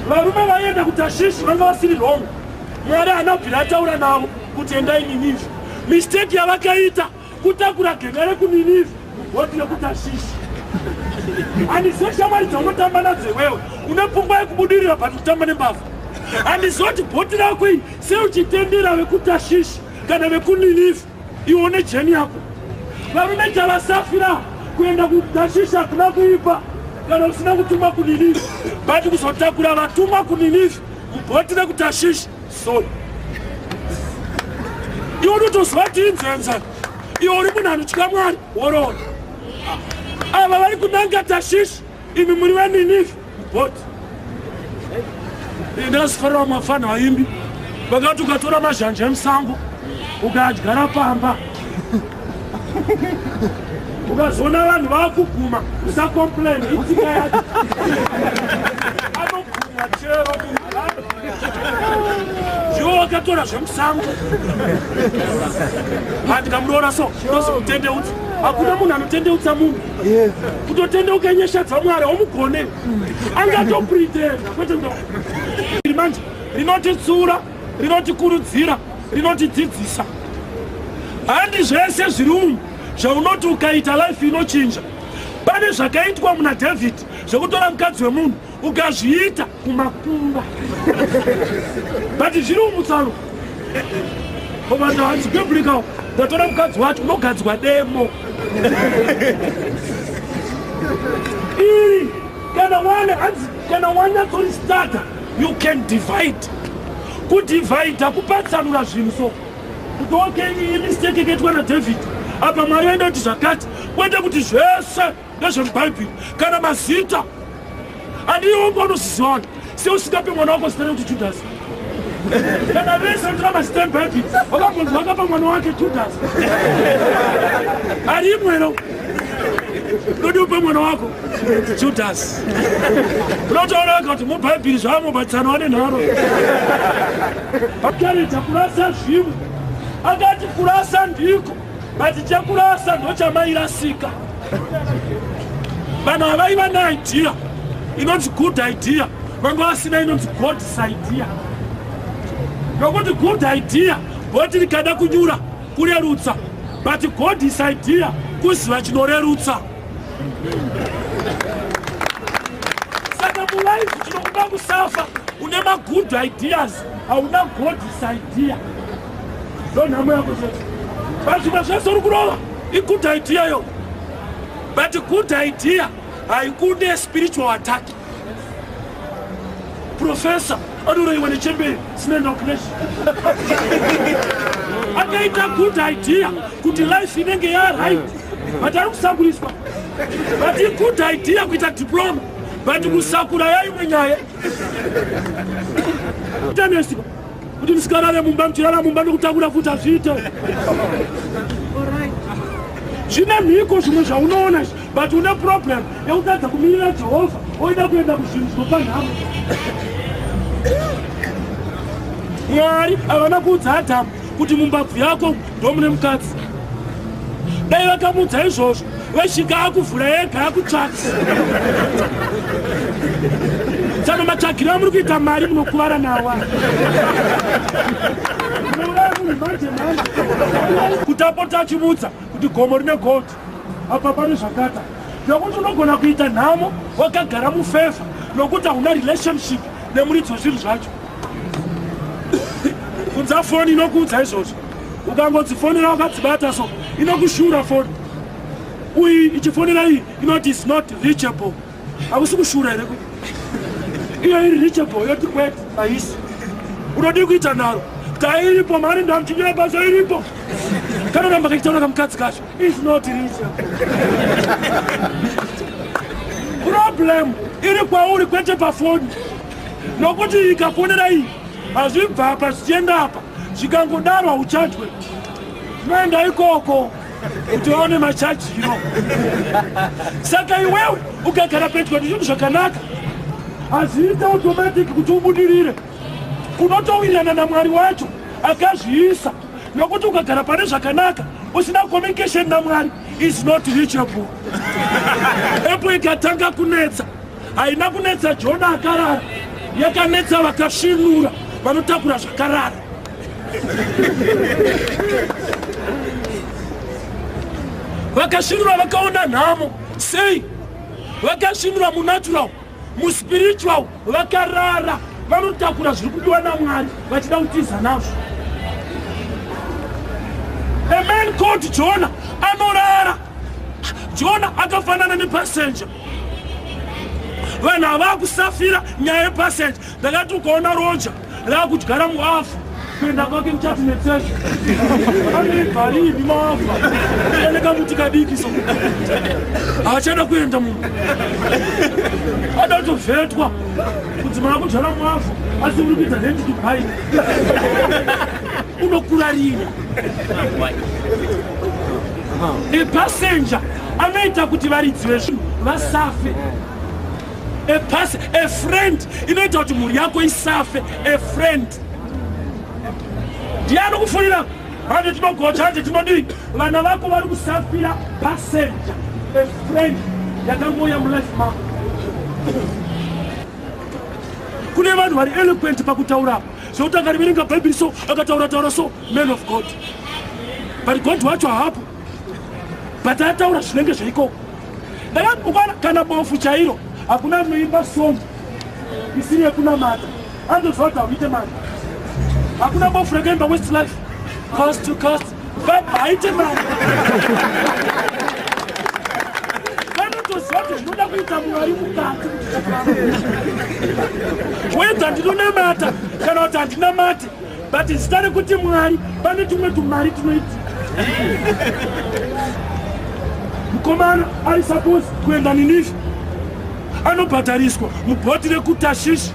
Varume vaienda kuTashishi vanga vasiri wrong. Mwari haana kubvira ataura navo kuti endai Ninivhi. Mistake yavakaita kutakura genga rekuNinivhi voti rekuTashishi. Handizve shamwari dzaunotamba nadzo iwewe une pfungwa yekubudirira but kutamba nembavha. Handizoti bhoti rako iyi seuchitendera vekuTashishi kana vekuNinivhi. Iwo nejeni yako varume javasafira kuenda kutashisha kuna kuipa kana usina kutumwa kuninivi but kuzotakura vatumwa kuninivi mubhoti rekutashisha soi iwo unotoziva kuti inzenza iwo uri munhu anotya mwari woroona ava vari kunanga tashisha imi muri veninivi What? Ndakasifara mafana vaimbi vakati ukatora mazhanje emusango ukadyara pamba ukazoona vanhu vakuguma usacomplain itika yake anoguma chero ndiwo wakatora zvemusango andikamuroora so ndozimutendeuti hakuna munhu anotendeutsa munhu kutotendeuka nyasha dzamwari omugone angatopritenda kwete kuda iri manje rinotitsiura rinotikurudzira rinotidzidzisa handi zvese zviri umu zvaunoti ukaita life inochinja pane zvakaitwa muna david zvekutora mukadzi wemunhu ukazviita kumakumba but zviri umutsano ovataazigebulikawo ndatora mukadzi wacho unogadzwa demo iri kana wane hanzi kana wanyatsoristarta you can divide kudivhaidha kupatsanura zvinhu so kuti okay imistake ikaitwa naDavid apa mwari vaenda kuti zvakati kwete kuti zvese nezvemubhaibheri kana mazita andiomba unozizivana se usingape mwana wako zita rekuti judhasi kana vese ndira mazita emubhaibheri wakambonzwa akapa mwana wake judhasi ari imwero dodi upe mwana wako judhasi unotaura wega kuti mubhaibheri zvaamubatsano ane nharo pakarita kurasa zvimu akati kurasa ndiko but chekurasa ndochamairasika vanhu havaiva neidea inonzi good idea vanga vasina inonzi god's idea nokuti good idea goti rikada kunyura kurerutsa but god's idea kuziva chinorerutsa saka mulaife chinokuda kusafa une magood ideas hauna god's idea ndonhamo yako chete pazvimwe zvese uri kurova igood idea yo but good idea haikude spiritual attack professor anoroiwa nechembere sine noknes akaita good idea kuti life inenge yaright but ari kusakuriswa but igood idea kuita diploma but kusakura yaimwe nyaya tanesiko kuti musikarare mumba muchirara mumba nekutakura futi hazviite zvine mhiko zvimwe zvaunoona izvi but une problem yekutadza kumirira jehovha oida kuenda kuzvinhu zvinopa nhamo mwari havana kuudza adhamu kuti mumbabvu yako ndomune mukadzi dai vakamuudza izvozvo Weshinga akuvhura yega akutsvaka. Saka matsvagiro amuri kuita mari munokuvara nawa. Kuti apota achivudza kuti gomo rine gold apa pane zvakata nokuti unogona kuita nhamo wakagara mufevha nokuti hauna relationship nemuridzi wezvinhu zvacho. kudza foni inokuudza izvozvo ukangodzifonera wakadzibata so inokushura foni uyi ichifonera iyi inoti is not reachable hakusi kushura here kuti iyo iri reachable yoti kwet haisi unodii kuita nharo dai iripo mari ndamuchinyira basa iripo kana ramba kachitaura kamukadzi kacho is not reachable problem iri kwauri kwete pafoni nokuti ikafonera iyi hazvibva apa zvichienda apa zvikangodaro hauchajwe zvinoenda ikoko kuti vaone machaji ino saka iwewe ukagara pedyo ndizvinhu zvakanaka hazviita automatic kuti ubudirire unotowirirana namwari wacho akazviisa nokuti ukagara pane zvakanaka usina communication namwari is not reachable epo ikatanga kunetsa haina kunetsa jona akarara yakanetsa vakasvinura vanotakura zvakarara vakasvinura vakaona nhamo sei vakasvinura munatural muspiritual vakarara vanotakura zviri kudiwa namwari vachida kutiza nazvo a man called jona anorara jona akafanana nepasenja vanhu havaa kusafira nyaya yepasendi ndakati ukaona roja raakudyara muavhu kuenda kwake muchati netsesha anevharivi maavha ane kamuti kadiki so haachada kuenda munhu adatovhetwa kuti mwana kudyara muavhu asi uri kuita hendi dubai unokurarira epasenja anoita kuti varidzi vezvinhu vasafe a pass a friend inoita kuti mhuri yako isafe a friend ndiye anokufunira hande tinogocha hande tinodii vana vako vari kusafira passenger a friend yakangouya mulife mako kune vanhu vari eloquent pakutaura apo zvekuti akariverenga bhaibheri so akataura taura so man of god but god wacho haapo but ataura zvinenge zveikoko ndakakwana kana bofu chairo hakuna anoimba song isiri yekunamata andoziva kuti hauite mari hakuna bofu rakaimba west life cost to cost but haite mari vanotoziva kuti zvinoda kuita mwari mukati wedza ndinonamata kana kuti handinamate But zita rekuti Mwari pane tumwe tumari tunoiti. Mkomana ari suppose kuenda Ninive. Anobhadhariswa mubhoti rekuTashish.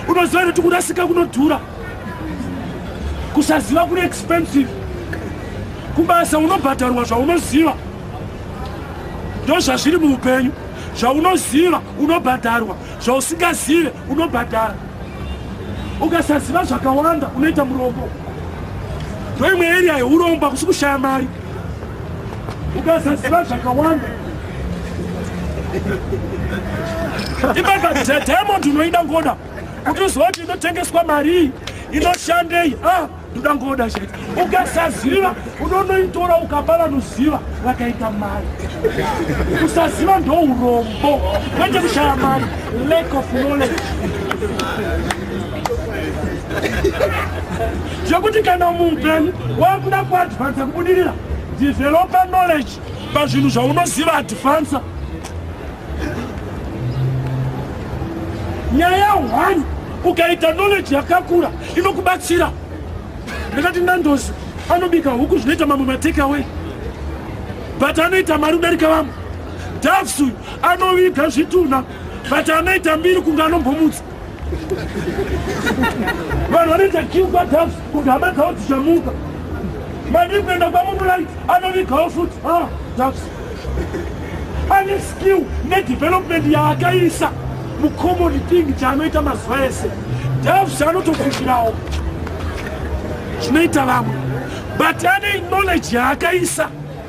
Unoziva kuti kurasika kunodhura. Kusaziva kune expensive. Kubasa unobhadharwa zvaunoziva. Ndozvazviri muupenyu. Zvaunoziva unobhadharwa, zvausingazive unobhadhara. ukasaziva zvakawanda unoita murombo ndoimwe area yeurombo akusi kushaya mari ukasaziva zvakawanda imbakadhedhemo ndinoida ngoda kuti uziva kuti inotengeswa marii inoshandei ah. ndoda ngoda chete ukasaziva unonoitora ukapa vanoziva vakaita mari kusaziva ndourombo kwete kushaya mari lack of knowledge zvekuti kana muupenyu wakuda kuadvansa kubudirira develope knowledge pazvinhu zvaunoziva advansa nyaya one ukaita knowledge yakakura inokubatsira ndakati ndandozi anobika huku zvinoita mamwe matake away but anoita mari kudarika vamwe davs uyu anoviga zvitunha but anoita mbiri kunge anombomutsa vanhu vanoita kiu kwadhafu kuti hama dzavo dzichamuka madii kuenda kwamubulai anovigawo futi a ah, dhafu ane skill nedevelopment yaakaisa mucommon thing chaanoita mazuva ese dhafu anotofushirawo zvinoita vamwe but ane knowledge yaakaisa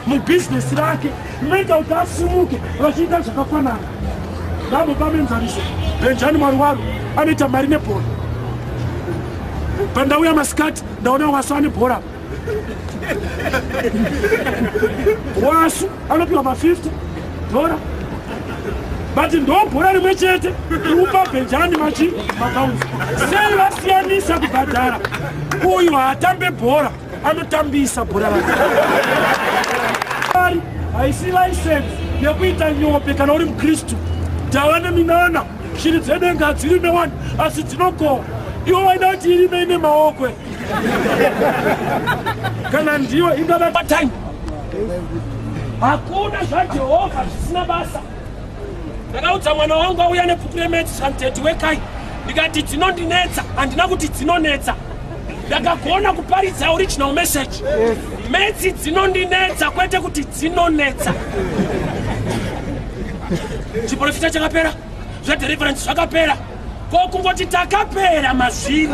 mubhizinesi rake rinoita kuti asimuke vachiita zvakafanana navo pamenzaniso benjani mwari waro anoita mari nebhora pandauya masikati ndaona wasu ane bhora wasu anopiwa ma50 dhora but ndobhora rimwe chete upa benjani machi makaunzi sei vasiyanisa kubhadhara uyu haatambe bhora anotambisa bhora rake haisi license yekuita nyope kana uri mukristu tava neminana shiri dzedenga hadzirime wani asi dzinokohwa iwo waida kuti irime ine maokwe kana ndiyo ingava patime hakuna zvajehovha zvisina basa ndakaudza mwana wangu auya nebhuku remets santeti wekai ndikati dzinondinetsa handina kuti dzinonetsa ndakagona kuparidza original message metsi dzinondinetsa kwete kuti dzinonetsa chiprofita chakapera zvedeliverance zvakapera ko kungoti takapera mazviri